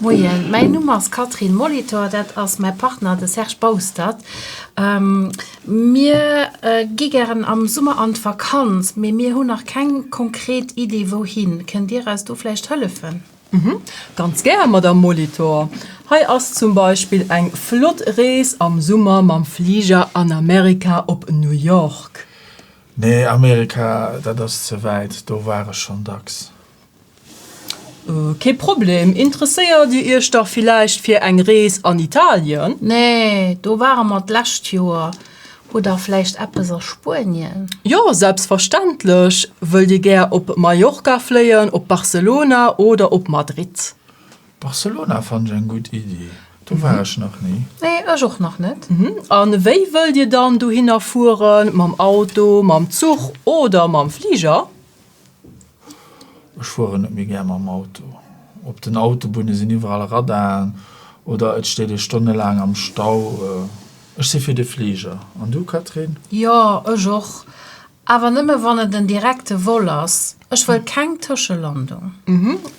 Moien, mäin Numm ass Catherine Molitor, dat ass mäi Partner, de Serge Baustert. Mir gi gären am Summer an d'Vakanz, mee mir hunn nach keng konkret Idee wouhin. Kënnt Dir eis do vläicht hëllefen? Ganz gär, Madamm Molitor. Hei ass zum Beispill eng flott Rees am Summer mam Fliger an Amerika op New York. Nee, Amerika, dat ass ze wäit, do war ech schonn dacks. Kee Problem. Interesséiert Dir Iech da villäicht fir eng Rees an Italien? Nee, do ware mer d'lescht Joer. Oder vläicht eppes a Spuenien? Jo, selbstverständlech. Wëllt Dir gär op Mallorca fléien, op Barcelona oder op Madrid? Barcelona fannen ech eng gutt Iddi. Do war ech nach ni. Nee, ech och nach net. A wéi wëllt Dir dann dohinner fueren? Mam Auto, mam Zuch oder mam Fliger? Ech fueren net méi gär mam Auto. Op den Autobunne sinn iwwerall Radaren oder et steet ee stonnelaang am Stau. Ech si fir de Fliger. An du, Catherine? Jo, ech och, awer nëmme wann et en direkte Vol ass. Ech wëll keng Tëschelandung.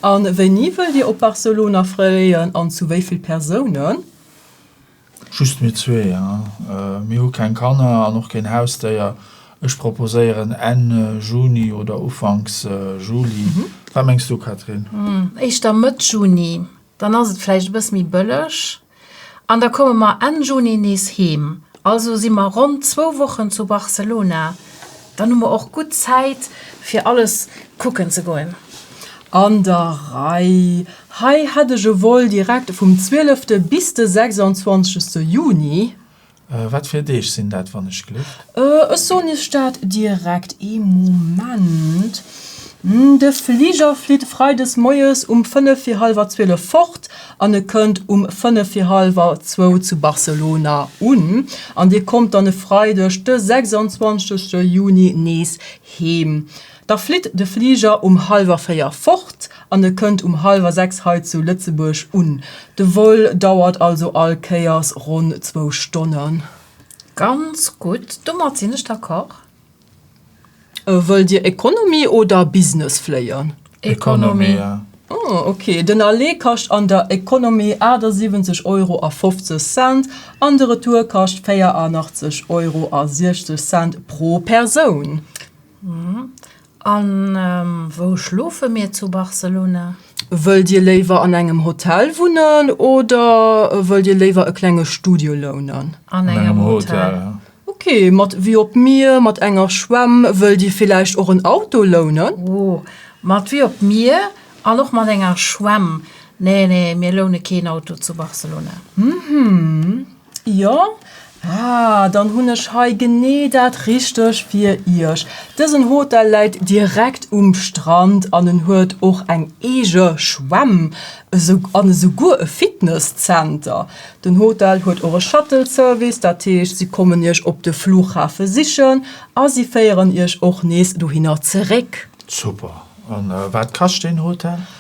A wéini wëllt Dir op Barcelona fléien an zu wéi vill Persounen? Just mir zwee, mir hu keng Kanner an och keen Hausdéier. Ech proposéieren Enn Juni oder Ufanks Juli. Wat mengs du, Catherine? Éischter Mëtt Juni, dann ass et vläicht e bësse méi bëlleg an da komme mer Enn Juni nees heem. Also si mer ronn zwou Wochen zu Barcelona. Dann hu mer och gutt Zäit, fir alles kucken ze goen. An der Rei. Hei hätt ech e Vol direkt vum 12. bis de 26. Juni. Wat fir Deeg sinn dat, wann ech gléck? Ech soen Iech dat direkt. Ee Moment. De Fliger flitt freides moies um fënnef fir hallwer zwielef fort. an e kënnt um fënnef fir hallwer zwou zu Barcelona un an Dir kommt dann e Freideg de 26 Juni nees heem. Da flitt de Fliger um hallwer véier fort an e kënnt um hallwer sechs hei zu Lëtzebuerg un. De Vol dauert also all Kéiers ronn zwou Stonnen. Ganz gutt, domat sinn ech d'accord. Wëllt Dir Economy oder Business fléien? Economy. Oh, ok. Den Aller kascht an der Economy 78 Euro a 50 Cent an de Retour kascht 84 Euro a 60 Cent pro Persoun. A wou schlofe mir zu Barcelona? Wëllt Dir léiwer an engem Hotel wunnen oder wëllt Dir léiwer e klenge Studio lounen? An engem Hotel. Ok, mat Vue op d'Mier, mat enger Schwämm. Wëllt Dir villäicht och en Auto lounen? Oh, mat Vue op d'Mier an och mat enger Schwämm. Nee, nee, mir loune keen Auto zu Barcelona. Mhmm. Jo, ah, dann hunn ech hei genee dat Richteg fir Iech. Dësen Hotel läit direkt um Strand an en huet och eng eege Schwämm an esouguer e Fitness-Zenter. Den Hotel huet och e Shuttle-Service, dat heescht, si kommen Iech op de Flughafe sichen a si féieren Iech och nees dohinner zeréck. Super! An wat kascht deen Hotel?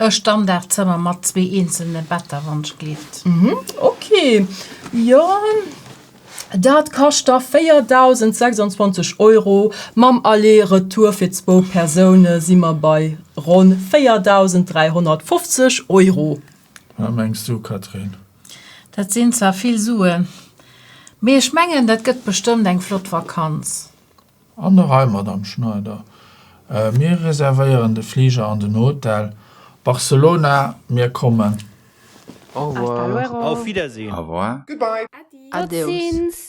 E Standardzëmmer mat zwee eenzelne Better, wann ech gleeft. Ok, jo, dat kascht da 4.026 Euro. Mam Aller Retour fir zwou Persoune si mer bei ronn 4.350 Euro. Wat mengs du, Catherine? Dat sinn zwar vill Suen, mee ech mengen, dat gëtt bestëmmt eng flott Vakanz. An och hei, Madamm Schneider, mir reservéieren de Fliger an den Hotel Barcelona. Mir kommen. Au revoir. Auf Wiedersehen. Au revoir. Goodbye. Adios.